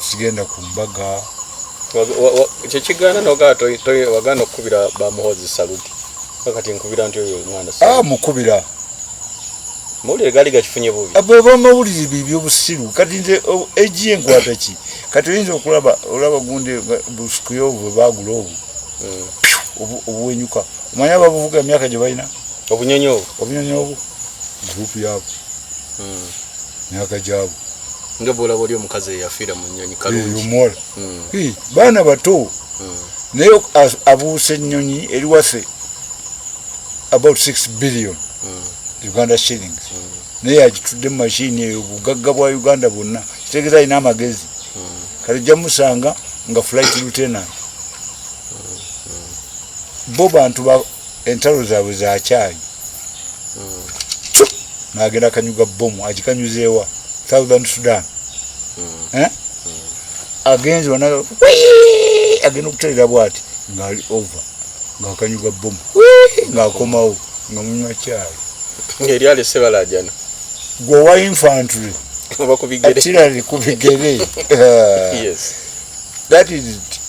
sigenda ku mbaga kyekigaana nogawagaana okukubira bamuhozi saluti akati nkubira nti oyo omwana ah, mukubira mawulire gaali gakifunye bubi ah, bweba amawulire bibyo busiru kati nze egi oh, enkwata ki kati oyinza okulaba olaba gunde busikuyo obwe bagula obwo hmm. obuwenyuka omanya ababuvuga emyaka gye balina obunyonyi obwo obunyonyi obwo gurupu yabwe hmm. myaka gyabo nga bwolaba oli omukazi eyafiira mu nnyonyi kalungiomuwala hmm. baana bato hmm. naye abuusa ennyonyi eri waffe about six billion hmm. uganda shillings naye agitudde mu mashini eyo obugagga bwa uganda bwonna kitegeeza alina amagezi kale jja musanga nga flight lieutenant bo bantu entalo zaabwe za kyayi hmm. nagenda kanyuga bomu agikanyuzeewa southern sudan hmm. eh? agenze wana agenda okuterera bwati ngaali over ngaakanyuga bomu ngaakomawo nga munywa kyayi ngaeryali sebalajana gwowa infantry atirali ku bigere that is it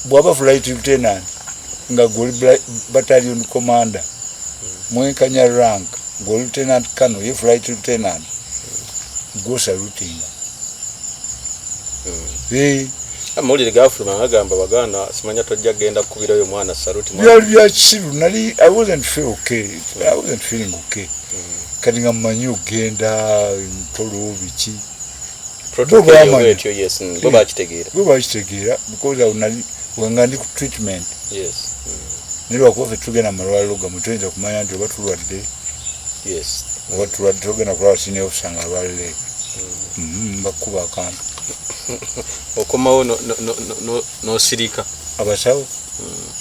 bwaba flight lieutenant nga goli battalion commander mwenkanya rank gwe lieutenant colonel ye flight lieutenant gwo salutinga hmm. amawulire ah, gafuluma agamba baganda simanya tojja kugenda kukubira oyo mwana saluti byali bya kisiru nali i wasn't feel okay hmm. i wasn't feeling okay hmm. kati nga mumanyi okugenda ntolo biki bwebakitegeera because awo nali wenga ndi ku treatment naye lwakuba fe tugenda mu malwaliro gamu tuyinza kumanya nti oba tulwadde oba tulwadde togenda kulaba sini ofisa nga alwalire mm-hmm, bakukuba akantu okomawo nosirika abasawo mm.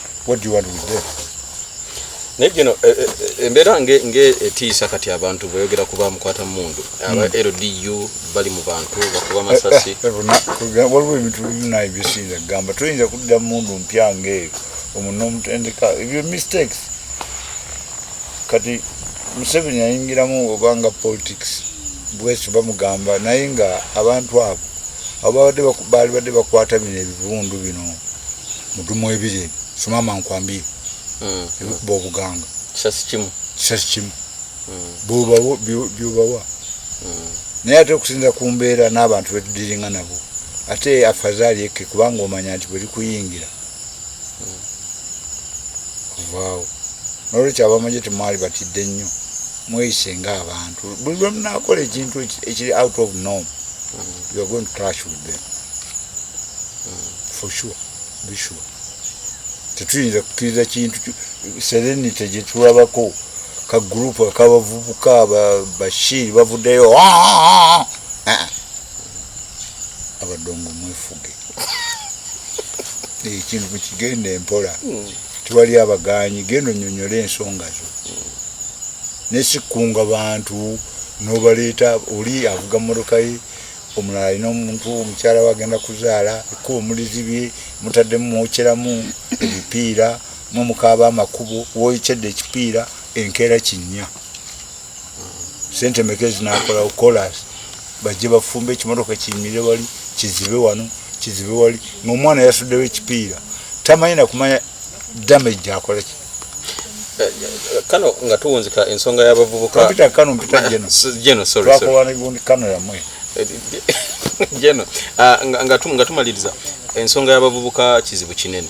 what do you want with them naye gino eh, eh, eh, embeera ng'etiisa kati abantu bweyogera kuba mukwata mundu aba hmm. ldu bali mu bantu bakuba masasi waliwo ebintu bina ebisinza kugamba toyinza kudda mundu mpya ngaeyo omuntu omutendeka ebyo mistakes kati museveni ayingiramu obanga politics bwekyo bamugamba naye nga abantu abo ababadde baalibadde bakwata bino ebivundu bino mudumu ebiri ebyo sumama nkwambie hmm. ebikuba obuganga kisasi kimu kisasi kimu hmm. byobawa hmm. naye ate okusinza ku mbeera n'abantu betudiringa nabo ate afazali eke kubanga omanya nti bwe likuyingira kuvaawo nolwekyo abamagye temwali batidde nnyo mweyise nga abantu buli lwemunakola ekintu ekiri out of norm you are going to clash with them for sure be sure tetuyinza kukkiriza kintu serenity gyetulabako ka group akabavubuka bashiri bavuddeyo ah, ah, ah, abadongo mwefuge ekintu mukigenda empola hmm. tewali abagaanyi genda onyonyola ensonga zo hmm. nesikunga bantu nobaleeta oli avuga morokaye omulala alina omuntu omukyala we agenda kuzaala ekkuba omulizibye mutaddemu mwokyeramu ebipiira mumukaaba amakubo woyokyedde ekipiira enkeera kinnya sente meka ezinakolawo kolas bajje bafumbe ekimotoka kiyimire wali kizibe wano kizibe wali ngaomwana yasuddewo ekipiira tamanyi nakumanya damage gyakola ki kano nga tuwunzika ensonga y'abavubukampita kano mpita geno geno sorry sorry twakola n'egundi kano yamwe geno ah, nga nga tumaliriza ensonga y'abavubuka kizibu kinene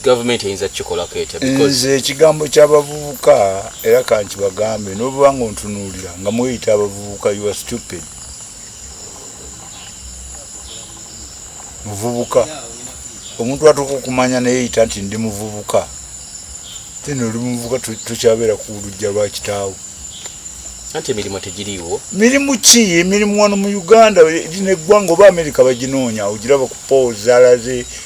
gavumenti eyinza kikolako etya nze ekigambo kyabavubuka era kanti bagambe nobuba nga ontunuulira nga mweyita abavubuka you are stupid muvubuka omuntu atuuka okumanya neyeyita nti ndi muvubuka then oli muvubuka tukyabeera ku lujja lwa kitaawo anti emirimu tegiriiwo mirimu ki emirimu wano mu uganda eri neggwanga oba amerika baginoonya ogiraba ku poozi alaze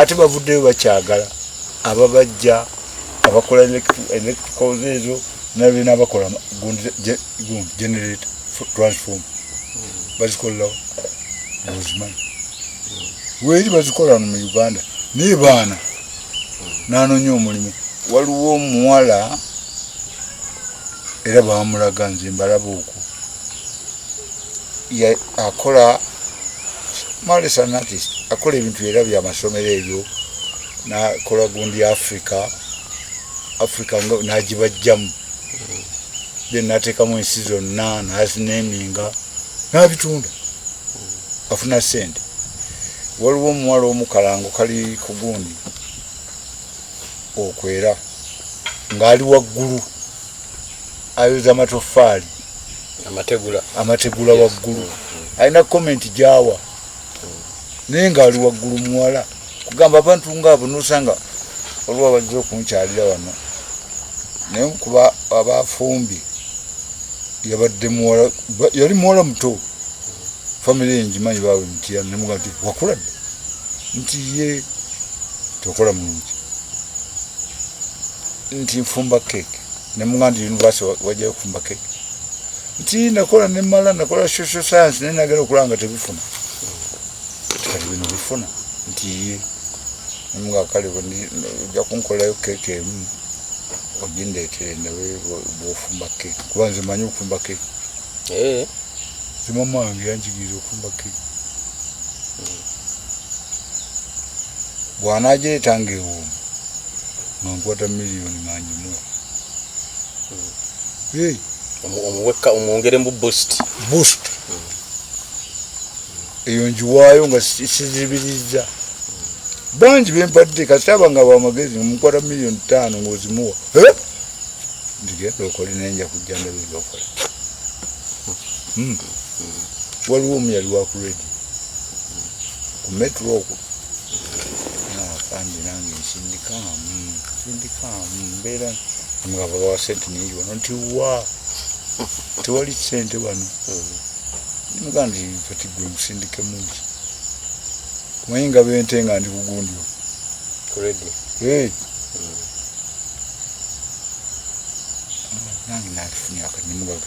ate bavuddeyo bakyagala ababajja abakola electricals ezo nabena abakola gundi generator transform bazikolerawo ozimanyi weeri bazikola no mu uganda naye baana nanonya omulimu waliwo omuwala era bamulaga nze mbalaba okwo akola malesanati akola ebintu era byamasomero ebyo nakola gundi africa africa nagibajjamu then natekamu ensi zonna nazineminga nabitunda afuna sente waliwo omuwala omukalango kali ku gundi okwera ngaali waggulu ayoza matoffaali amategula amategula waggulu mm, mm. alina komenti gyawa naye ngaali waggulu muwala kugamba abantu ngaabo nosanga olwa bajja okunkyalira wano naye kuba abafumbi yabadde muwala yali muwala muto famiry enjimanyi baawe mutya nemuga nti wakula dde nti ye tokola mulungi nti nfumba keeke ne muganda university wajayo okufumba keke nti nakola nemala nakola social science naye nagera okulaba nga tebifuna kati bino bifuna nti ye nga kale ojja kunkolayo keke emu ogindeetere nawe bwofumba keke kuba nze manyi okufumba keke eh. zimamange yanjigiriza okufumba keke bwanagireeta ngaewuumu nga nkwata miliyoni mangimuwa omuweka omwongere mu boost boost eyo njiwaayo nga sizibirizza bangi bempadde kasita aba nga bamagezi mukwata miliyoni taano ngaozimuwa ndigenda okole naye nja kujja ndabinga okola hmm. waliwo omu yali wa ku redi ku metro okwo naafandi nange nsindikaamu nsindikaamu mbeera nga babawa sente nyingi wano nti wa tewali sente wano nimugaa nti kati gwe musindike mungi kumanyi nga bente nga ndi kugundyo ku redi nange nakifunyaka nimugaga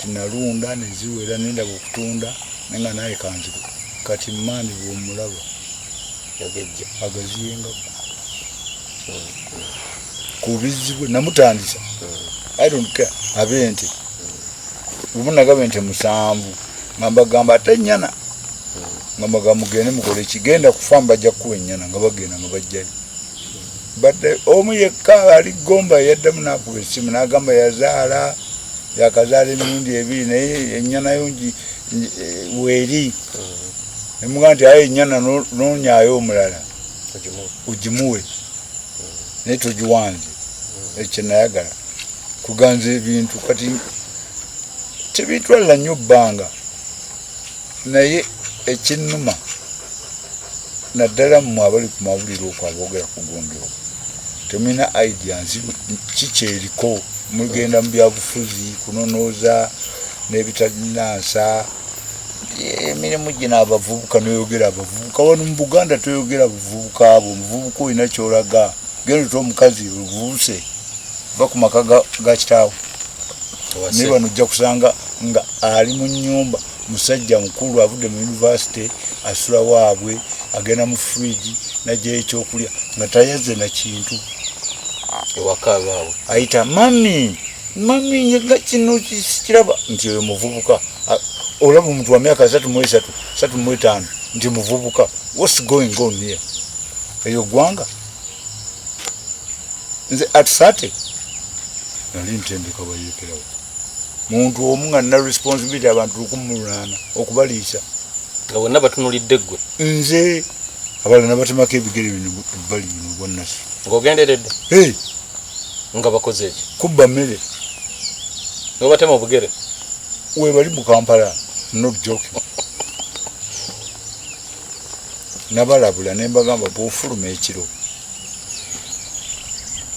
tinalunda neziwera nendaba okutunda nenga naye kanziku kati mani bwomulaba yagejja agaziyenga kubizibwe namutandisa i don't care abente lumu nagaba ente musanvu ngambagamba ate nyana ngamagamugende mukole kigenda kufa mbajja kuwa enyana nga bagenda nga bajjayo badde omu yekka ali gomba yaddamu nakuba esimu nagamba yazaala yakazaala emirundi ebiri naye enyanayo ngi eh, weeri nemuga nti aye enyana nonyayo omulala ogimuwe naye togiwanze ekyo nayagala kuganza ebintu kati tebitwalira nnyo bbanga naye ekinnuma naddala mmwe abali ku mawulire okwo aboogera ku gondero temulina idea nsi kikyeriko mugenda mu byabufuzi kunonooza n'ebitalina nsa emirimu gino abavubuka noyogera abavubuka wano mu buganda toyogera buvubuka bwo omuvubuka olina kyolaga genda ota omukazi oluvubuse va ku maka ga kitaawo naye bano ojja kusanga nga ali mu nyumba musajja mukulu avudde mu yunivasite asula waabwe agenda mu fridge najjayo ekyokulya nga tayeze na kintu ewakaabaawe ayita mami mami nga kino kiraba nti oyo muvubuka olaba omuntu wa myaka satu mu esatu satu mu etaano nti muvubuka whats going on here eyo gwanga nze at 30 nali ntendeka bayekerawo muntu omu nga nina responsibility abantu lukumulunana okubaliisa nga bonna batunulidde ggwe nze abala nabatemako ebigere bino ebbali bino bwannasi ngaogenderedde nga bakoze eki kubba mmere nobatema obugere webali mu kampala not joking nabalabula ne mbagamba bwofuluma ekiro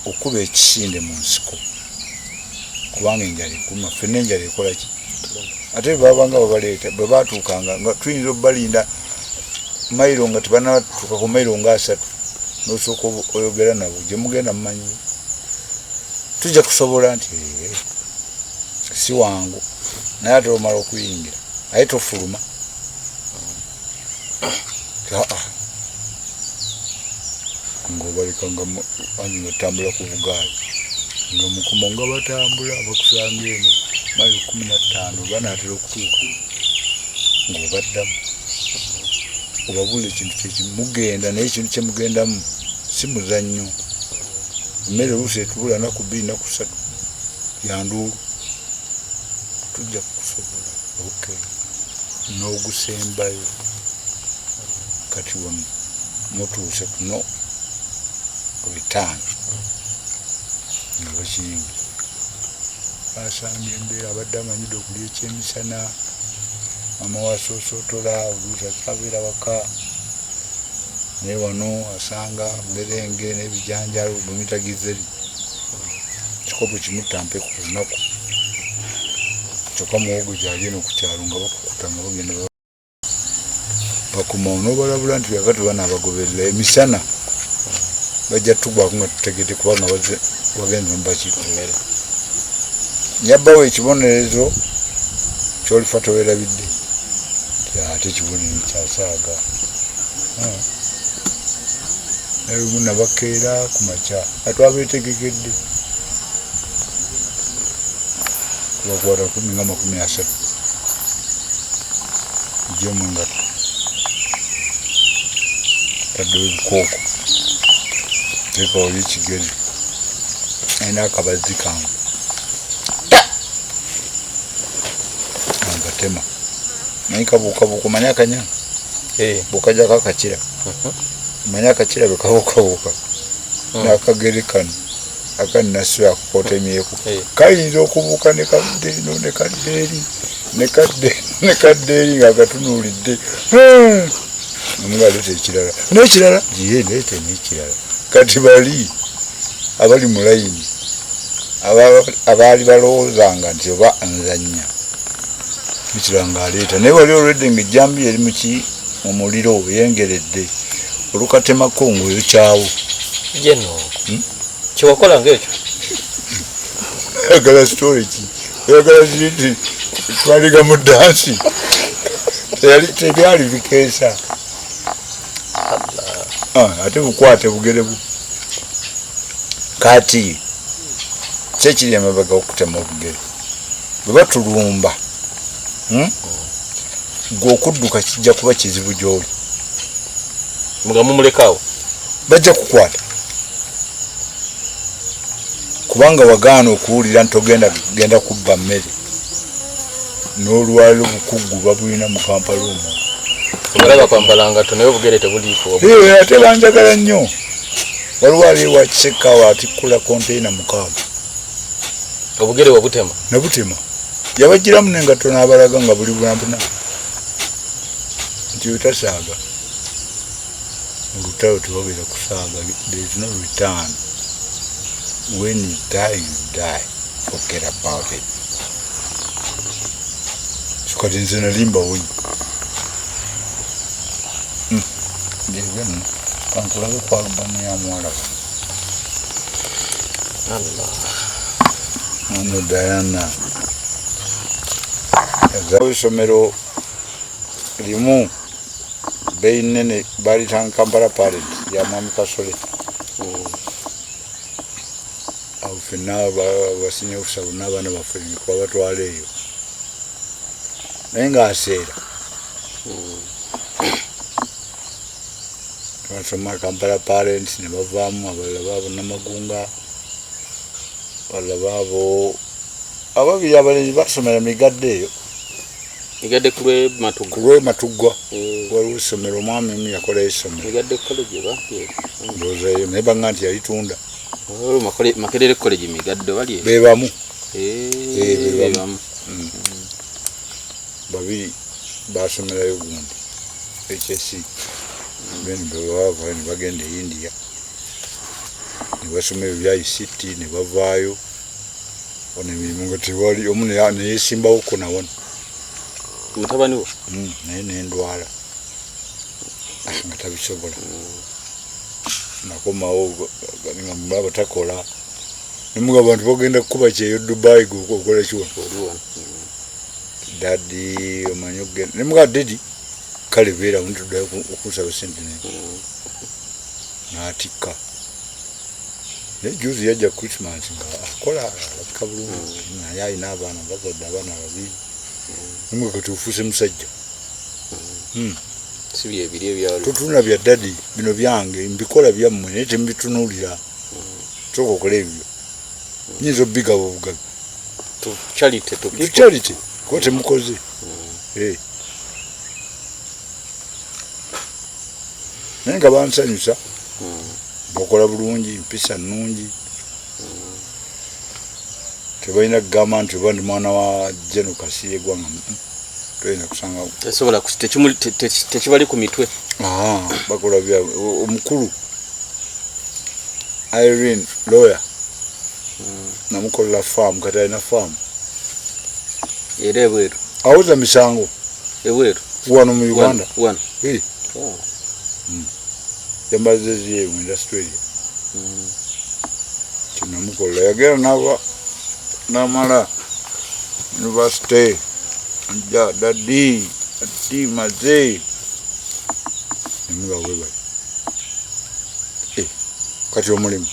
okuba ekisinde mu nsiko kubanga enjala ekuma fenna enjala ekola ki ate bwebabanga babaleeta bwe batuukanga nga tuyinza obubalinda mailo nga tebanatuuka ku mailo nga asatu nosooka oyogera nabo gye mugenda mumanyi tujja kusobola nti si wangu naye ate omala okuyingira aye tofuluma nga obaleka nga ani batambula ku bugaali nga mukomo nga batambula bakusanga eno mailo kumi nattaano banaatera okutuuka ng'obaddamu obabula ekintu kyekimugenda naye ekintu kyemugendamu si muzannyo emmere oluusi etubula naku bbiri naku ssatu yanduulu tujja kukusobola okay n'ogusembayo kati wano mutuuse kuno return nga bakiyingi basanga embeera abadde amanyidde okulya ekyemisana mama wasosotola oluusi akyabeera waka naye wano asanga mberenge n'ebijanjalo bwemitagize kikopo kimu tampe ku lunaku kyokka muwogo gyali eno ku kyalo nga bakukuta nga bagenda bakuma onobalabula nti yakati bana abagoberera emisana bajja tugwako nga tutegede kubanga wagenze mubaki emmere nyabbawo ekibonerezo kyolifa towerabidde ate ekibonerezo kyasaaga naye lumu nabakeera ku makya atwabetegekedde kubakwata kumi nga makumi asatu ejja mu ngatto taddewo ebikooko tekawoli ekigere alina akabazzi kange angatema naye kabuukabuuka manya akanya eh. bukajako akakira uh-huh. manya akakira bekawokawoka hmm. nakagere kano akanasula kukotemyeku eh. kayinza okubuuka nekadde eno nekadde eri nekadde nekadde eri nga agatunulidde omugaleta hmm. ekirala nekirala ye nete nekirala kati bali abali mu layini abaali balowoozanga nti oba nzanya ekirala ngaaleeta naye wali olwedde nga ejjambiya eri muki mu muliro oyengeredde olukatemako ngaoyokyawo jeno hmm? kyewakola ngaekyo oyagala story ki oyagala ziti twaliga mu dansi tebyali bikeesa ah, ate bukwate bugere bu kati kyekiri emabega okutema obugere bwe batulumba hmm? gwe okudduka kijja kuba kizibu gyoli nga mumulekaawo bajja kukwata kubanga wagaana okuwulira nti ogenda genda kubba mmere n'olwaliro bukuggu babulina mu kampala omu obalaba kwambala ngato naye obugere tebuliiko ate banjagala nnyo waliwo aliwa kisekaawo atikkula konteyina mukaaga obugere wabutema nabutema yabajjiramu nengatto n'abalaga nga buli bulampuna nti otasaaga olutalo tebabeera kusaaga there is no return when you die you die forget about it kati nze nalimba wonyi hmm. ngewe kankulabe kwalubamuyamwalaba Ano Diana ezawo isomero limu beyi nene balitanga Kampala Parent ya Mwami Kasole awo fenna basinya ofisa bonna abaana baffe kubabatwala eyo naye nga aseera Kansoma Kampala Parents ne bavaamu abalala baabo Namagunga abalala baabo ababiri abalenzi basomera migadde eyo migadde ku lwematuggwa lwe matuggwa eh. waliwo essomero omwami omu yakola essomero migadde college ba ndowooza eyo naye banga nti yalitunda oh, makerere college migadde bali bebamu eh, eh, bebamu mm. babiri basomerayo gundi hsc then bebawava nebagenda e india nebasoma ebyo bya ict nebavaayo ono emirimu nga tewali omu neyesimbawo ko nawona mutabani wo hmm, naye nendwala ah, nga tabisobola nakomawo ngamulaba takola nemuga abantu bagenda kukuba kyeyo dubai gokola kiwa dadi omanyi okugenda ne muga dadi kale beera wunti tuddayo okusaba sente ne n'atikka naye juzi yajja christmas nga akola alabika bulungi naye alina abaana bazadde abaana babiri nimwe kati ofuuse musajja hmm. totuna bya dadi bino byange mbikola byammwe naye temubitunulira soka okola ebyo nyinza obigaba obugabi charity to people charity ko temukoze mm. eh nenga bansanyusa mm. bokola bulungi mpisa nungi mm. tebalina kugamba nti oba ndi mwana wa jeno kasiye gwanga tesobola tekibali ku mitwe ah, bakola bya omukulu irene lawyer hmm. namukolera faamu kati alina faamu era ebweru awuza misango ebweru wano mu uganda wano oh. hmm. yambazeziye mu industry eyo mm. kinamukola yagera naba namala university nja dadi ati maze nemuga webayo eh, kati omulimu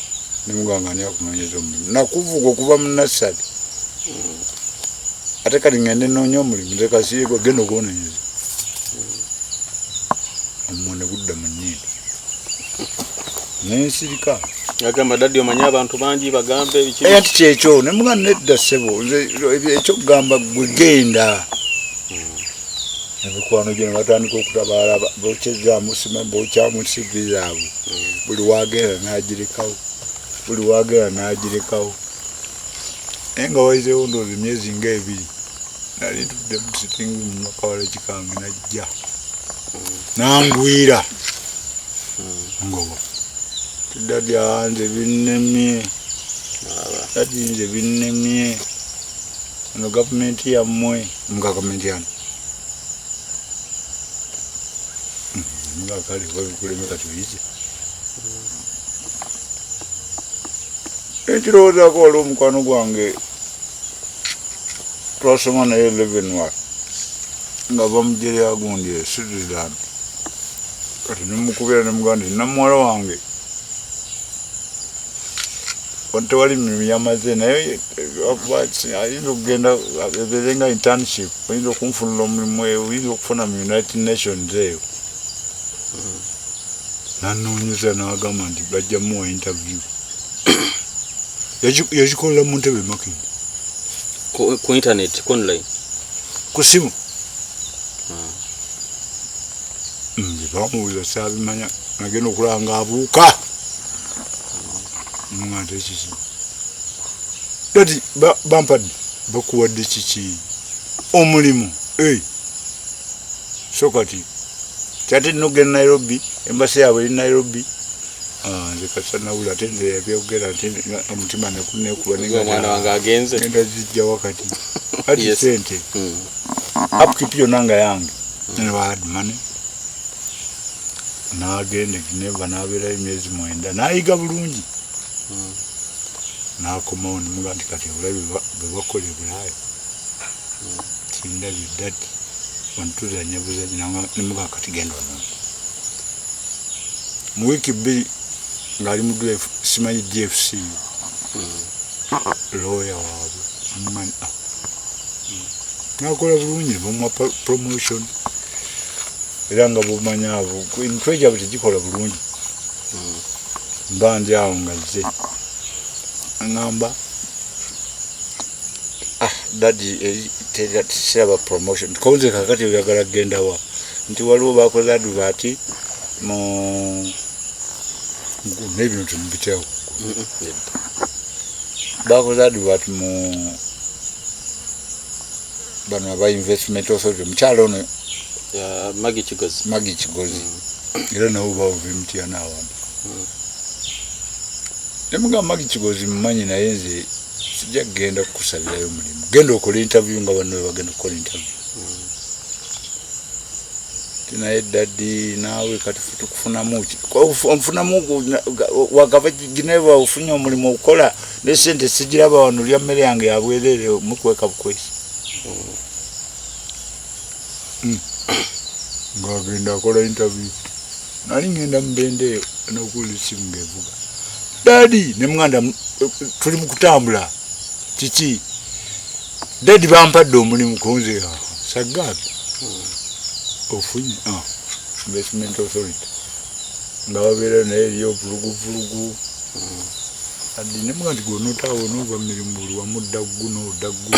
nemuganga ani akunonyeza omulimu nakuvuga okuva mu nasali mm. ate kati ngende nonya omulimu nze kasiyegwa genda ogononyeza omwo ne gudda mu nnyindo nensirika agamba daddi omanyi abantu bangi bagambe nti eh, kyekyo ne muga nedda ssebo ekyokugamba gwe genda emikwano gyo nebatandika okutabaala bokyezamusima bokyamu sivi zaabwe hmm. buli wagenda nagirekawo buli wagenda nagirekawo naye nga waizewo ndoozi myezi nga ebiri nali tudde musitingi mumakawala kikange najja nangwira ngoba tudda byanze binnemye ati nze binnemye ono gavumenti yammwe mugavumenti ano nga kale babikuleme kati oyize ekirowoozaako waliwo omukwano gwange twasoma naye levenwar nga bamugye lyagundi e switzerland kati nemukubira nemuganda ti namuwala wange tewali mirimu yamaze naye eh, ayinza okugenda ebeere nga internship oyinza okunfunula omulimu eyo oyinza okufuna mu united nations eyo hmm. nanoonyeza nagamba nti bajjamuwa interview yagikolela mu ntebe makin ku internet ku online ku simu ah. mm, bamuwuza sabimanya nagenda okulaba nga abuuka mungante kiki dati bampadde bakuwadde kiki omulimu eh. so kati kyati nogenda nairobi embasi yaabwe eri nairobi Ah, nze kasa nawula ate nze yabyogera ate omutima nekunekubaomwana wange agenze nenda zijja wakati ati sente hmm. upkeep yona nga yange newad mone nagenda egineva nabeerayo emyezi mwenda nayiga bulungi hmm. nakomawo nemuga nti kati obulabi bwebakola ebulayo hmm. tindabye dati ontuzanya buzanyi nemuga kati genda omuntu mu wiiki bbiri ng'ali mu drive simanyi gfc looya waabwe amumanyi ah. nakola bulungi bamwa promotion era nga bumanya abo emitwe gyabwe tegikola bulungi mba ndi awo nga zze aŋamba ah dadi eh, teraba promotion konze kakati oyagala kgendawa nti waliwo bakoze aduba ati mu naye bino temubitewo bakoze advert mu bano aba investment authority omukyalo ono magi kigozi magi kigozi mm. era nawe bawuva emitiana awantu mm. nemugamba magi kigozi mumanyi naye nze sijja kugenda kukusabirayo mulimu genda okola interview nga banno webagenda okukola interview tinaye dadi naawe kati tukufunamu nfunamu wagava gineva ofunye omulimu okukola ne sente sigiraba wano lya mmere yange yabwerere mukweka bukwesi hmm. ngagenda akola interview nali ngenda mubende eyo nokuwulira esimu ngaevuga dadi ne muganda tuli mu kutambula kiki dadi bampadde omulimu kunze ah, sagaaga ofunye ah, investment authority nga babeera naye eri ovuluguvulugu adi ne mugandi gwonotaawo onova mumirimu buli wamu ddaggu noddaggu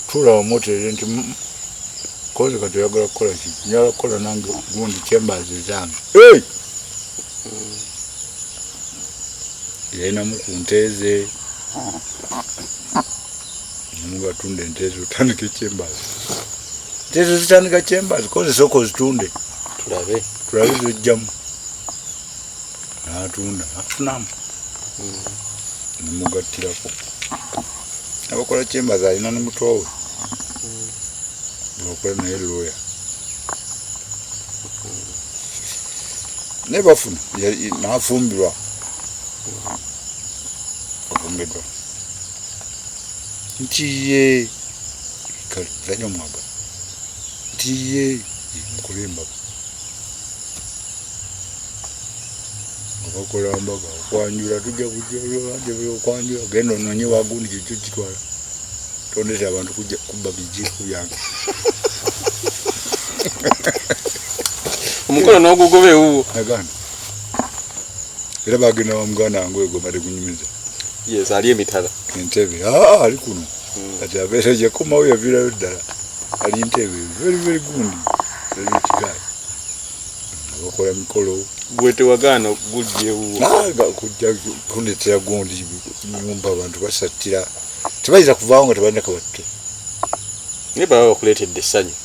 tuula wamuteere nti mm, koze kati oyagala kukola ki njala kukola nange gundi chambers ezange yalinamu ku nte ze mubatunda ente ezo otandika ekyembazi nte ezo zitandika kyembazi kozesooka ozitunde tulabe tulabe zojjamu natunda afunamu hmm. nemugattirako abakola kyembazi alina ne mutoowe hmm. akola naye looya hmm. naye bafuna nafumbirwa afumbidwa nti ye kale zanya omwaga nti ye mukole embaga abakola mbaga okwanjula tujja kujja okwanjula genda ononye wagundi kyekyo kitwala tondete abantu kujja kubba bijiiko byange omukono n'ogugoba ewuwo nagana era bagenda wa muganda wange oyo gwebade kunyumiza yes ali emitala entebe aa ali kuno hmm. kati abeera yakomawo yaviirayo ddala ali ntebe very very gundi very rich guy abakola mikolo gwe tewagaana okujjewokujja kundetera gundi nyumba abantu basattira tebayinza kuvaawo nga tebalina kabatte naye baba bakuleetedde essanyu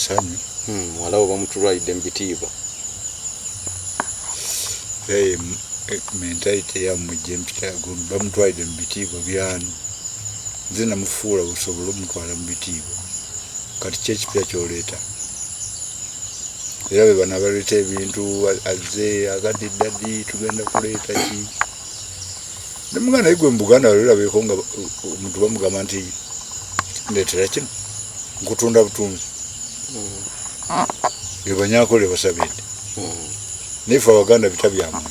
sanyu hmm, muwala we bamutulwalidde mu bitiibwa eh, mentalite yamujja empita bamutwalidde mu bitiibwa byani nze namufuula busobola omutwala mu bitiibwa kati kyekipya kyoleeta era be bana baleeta ebintu azze agadde eddadi tugenda kuleeta ki ne muganda naye gwe mu buganda walirabeeko nga omuntu bamugamba nti ndeetera kino nkutunda butunzi mm. ebanyakole basabidde mm. naye fe abaganda bita byamuntu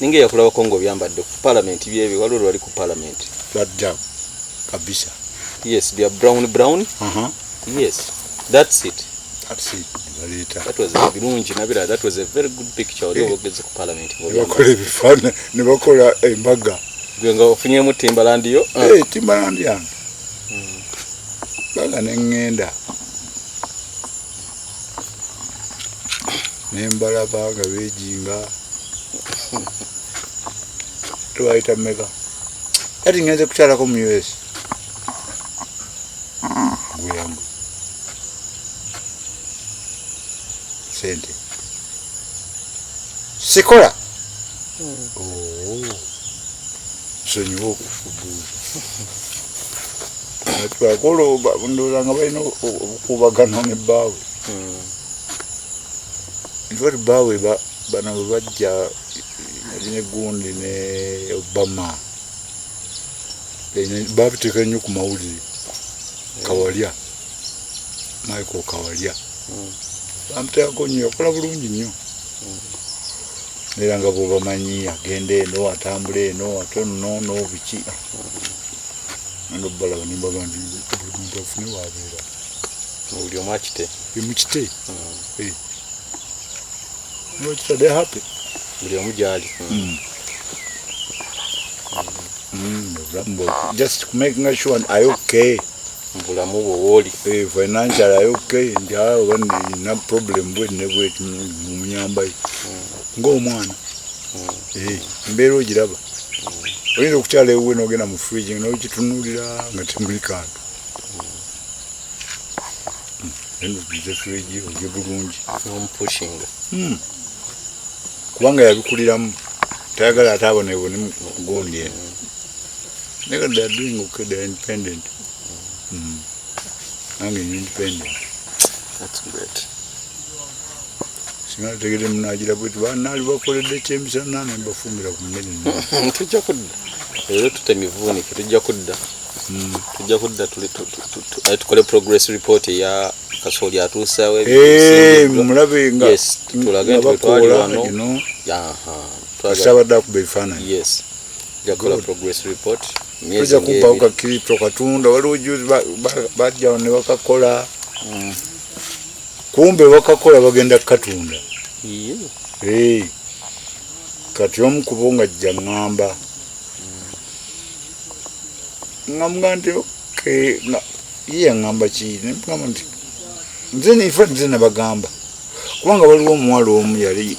ninga eyakulabako nga obyambadde ku palamenti byebyo waliwo lwali ku palamenti lwadda kabisa yes bya brown brown uh -huh. yes that's it birungi nabira that was a very good picture oli eh. obogezi ku palamenti bakola ebifaana ne bakola embaga gwe nga ofunyemu timbalandi yo ah. eh, timbalandi yange hmm. baga ne ŋŋenda nembalaba nga bejinga twayita meka kati ngenze kukyalako mu us gweyangu sente sikola hmm. oh. sonyiwa okufubuuza twakolo ndoza nga balina obukubagano ne baawe hmm. nti baawe bano bebajja ne gundi ne obama babiteeka nnyo ku mawulire hmm. kawalya michael kawalya hmm. bamuteekako nnyo yakola bulungi nnyo era nga bwobamanyi agenda eno atambula eno ate nono biki ah. nga balaba ne mbaba nti buli muntu afune waabeera buli omu akite emukite hmm. eh. nokitade happy buli omu gyali hmm. hmm. just making sure i okay bulamu bwo wooli eh, financial i okay nti awo ah, banina problem bwenne bweti mumuyambayo ng'omwana hmm. eh, embeera ogiraba hmm. oyinza okukyala ewuwe n'ogenda mu fridge nokitunuulira nga temuli kantu enze fridge ogye bulungi kubanga yabikuliramu tayagala ate abonebone mukugundi eno naye kati theyare doing okay theyare independent nange independent That's great. singa tegede munagira bwetu banaali bakoledde ekyemisana ne mbafumbira ku mmere tujja kudda era tute mivuunike tujja kudda hmm. tujja kudda tukole progress report eya kasooli atuusawo eh, mulabe nga tulage nti wetwali wano sabadde akuba ebifaananyi yes jakola progress report tujja kumpawo kakirito katunda waliwo juzi bajjawo ne bakakola hmm. kumbe bakakola bagenda kukatunda eh, kati omu kubo nga jja ŋŋamba ŋŋamba nti oke ye yaŋŋamba ki nemugamba nti nze nfa nze nabagamba kubanga waliwo omuwala omu yali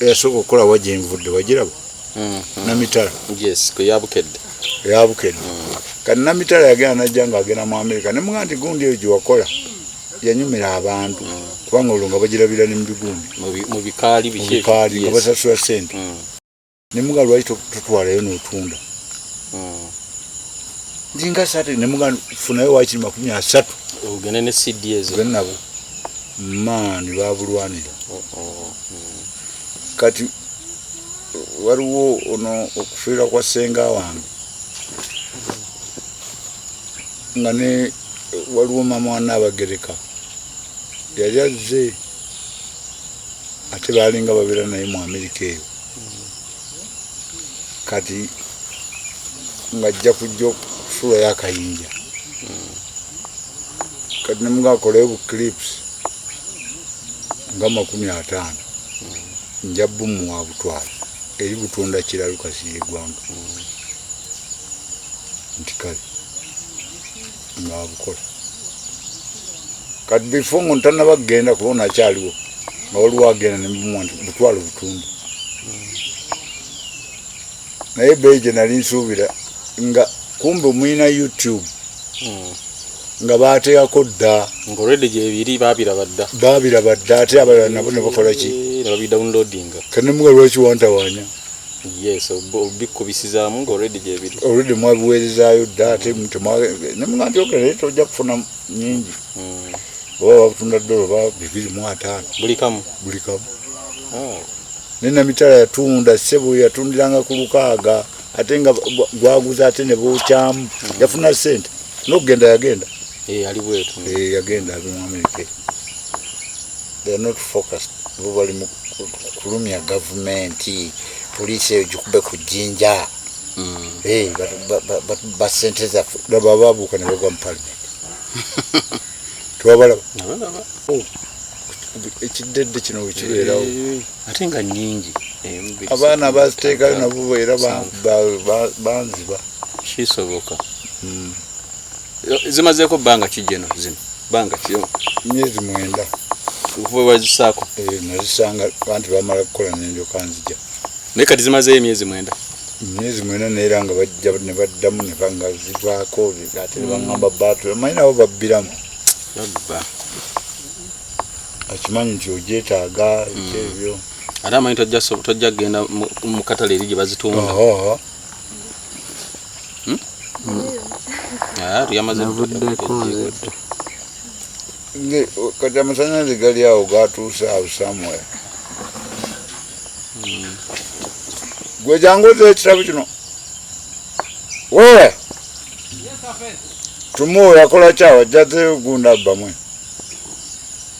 eyasooka okukola wa gyenvudde wagiraba mm-hmm. namitala yes kweyabukedde ya Bukedde kati Namitala yagenda najja ng'agenda mu Amerika ne muga nti gundi eyo gye wakola yanyumira abantu kubanga olwo nga bagirabira ne mu bigundi mu bikaali bikaali nga basasula ssente mm. ne muga lwaki totwalayo n'otunda mm. ndi nga sate ne muga funayo wakiri makumi asatu ogende ne cds ogende nabo maani babulwanira oh, oh, oh. kati waliwo ono okufiira kwa senga wange nga ne waliwo mama wana abagereka yali azze ate baalinga babeera naye mu amerika eyo kati ngajja kujja okusuulayo akayinja kati nemugakolayo bu clips nga makumi ataano nja bumuwa butwala eri butunda kiralu kasiye gwanga nti kale nabukola kati before nga ntanaba kugenda kuba nakyaliwo nga waliwo agenda nemumwa nti butwala obutundu naye beyi gye nali nsuubira nga kumbe omuyina youtube hmm. nga bateekako dda ngaolwedde gyebiri babiraba dda babiraba dda ate abalala nabo ne bakola ki eh, ne babidownloadinga kanemuga lwaki wantawanya yes obikubisizamu nga already gyebiri already mwabiweerezayo dda ate nemuga nti ogera naye tojja kufuna nyingi hmm. oba babutunda dola oba bibiri mu ataano buli kamu buli kamu oh. nenamitala yatunda sebo yatundiranga ku lukaaga ate nga gwaguza ate nebokyamu hmm. yafuna sente nokugenda yagenda eh, ali bwetu eh, yagenda abimuamerika they are not focused bo bali mu kulumya gavumenti poliisi eyo gikube ku jjinja mm. basente zaffe laba babuuka ne bagwa mu palimenti tewabalaba oh, ekiddedde kino wekibeerawo eh, ate nga nyingi eh, abaana baziteekayo nabo era banziba kisoboka mm. zimazeeko bbanga ki jeno zino bbanga ki myezi mwenda okuva wewazisaako eh, nazisanga bantu bamala kukola nenjoka nzija naye kati zimazeeyo emyezi mwenda myezi mwena neera nga bajja nebaddamu nebanga zivaako ate nebangamba baatu amanyi nabo babbiramu akimanyi nti ojetaaga ekyebyo mm. ate amanyi tojja kugenda mukatale eri gyebazitunda Hmm? Ah, kati amasanyalaze gali awo gatuuse awo samuel hmm. gwe jangu oza ekitabo kino wewe tumuwe yakola kyawa jjaze gunda bamwe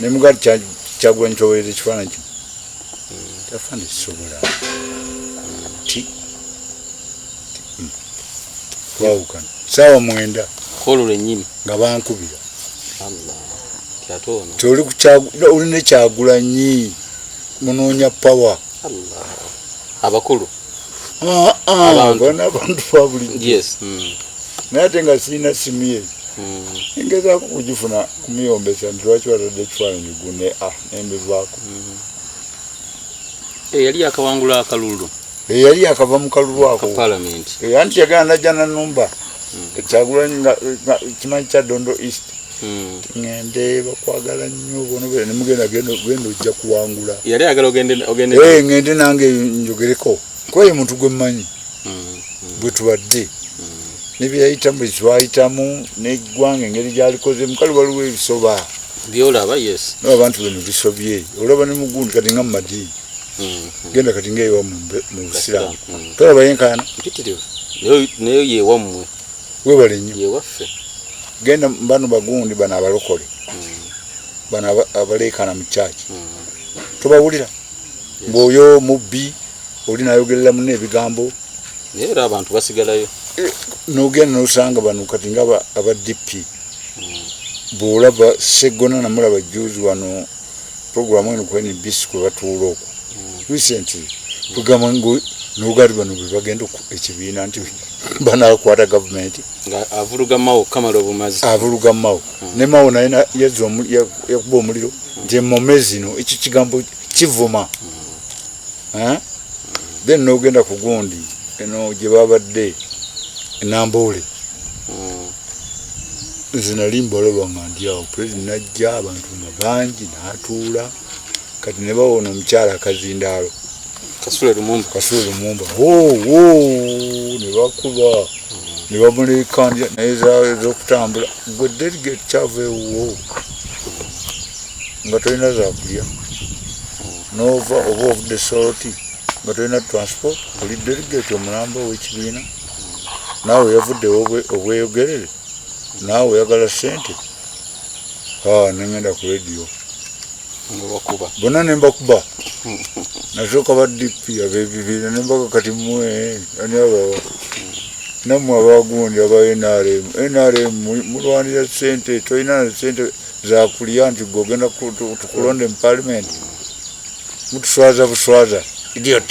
ne mugali kyagulanyi kyowereza ekifaananyi kino tafaana ekisobola ti hmm. twawukana saawa mwenda kolo lwenyini nga bankubira toli oli nekyagulanyi munoonya pawa abakulu abantu fabuliyo hmm. naye ate nga sirina simu ye hmm. engezaako kugifuna kumuyombesa nti lwaki watadde ekifaananyi gune a ah, nembivaako hmm. eh, yali yakawangula akalulu eh, yali yakava mu kalulu ako eh, anti yagana najja nanumba kyagulanyi nga kimanyi kya dondo east hmm. ngende bakwagala nnyo bononemugenda genda ojja kuwangula yali ayagala ogende eh, ngende nange njogereko kuba ye muntu gwe mmanyi hmm, hmm. bwe tubadde nebyeyayitamu bwe twayitamu neggwanga engeri gyalikoze mukali waliwo ebisoba byolaba yes nabantu beno bisobye olaba ne mugundi kati nga mumadiini mm-hmm. genda kati ngaewa mu busiraamu mm-hmm. tolaba yenkaana nayo yewammwe webale nnyo yewaffe genda bano bagundi bano abalokole mm-hmm. bano abaleekaana mu kyaki tobawulira ngaoyo mubbi oli nayogerera muna ebigambo naye era abantu basigalayo eh, nogenda nosanga bano kati nga aba dp bwolaba seggona namulaba juzi wano programu eno ku nbc kwe batuula oku recently kugamba ngo nogali bano bwe bagenda ekibiina nti banakwata gavumenti avuluga mawo kamala obumazi avuluga mawo hmm. ne mawo naye yazza yakuba omuliro nti emome zino ekyo kigambo kivuma hmm. eh? then nogenda ku gundi eno gye babadde enamboole hmm. nze nali mbalaba nga ndi awo pulezidenti najja abantu bangi natuula kati ne bawa ono omukyala akazindaalo kasule lumumba kasule lumumba ne bakuba ne bamuleekanja naye zokutambula gwe delegate kyava ewuwo nga tolina zakulya nova oba ovudde soroti nga tolina transport oli delegate omulamba owekibiina naawe yavudde obweyogerere naawe oyagala sente ah, nengenda ku radio bona nembakuba nasooka ba dp abebibiina nembaga kati mwe ani abawa namwe abagundi aba nrm nrm mulwanira sente tolina na sente zakulya nti gwe ogenda tukulonde mu palimenti mutuswaza buswaza idiot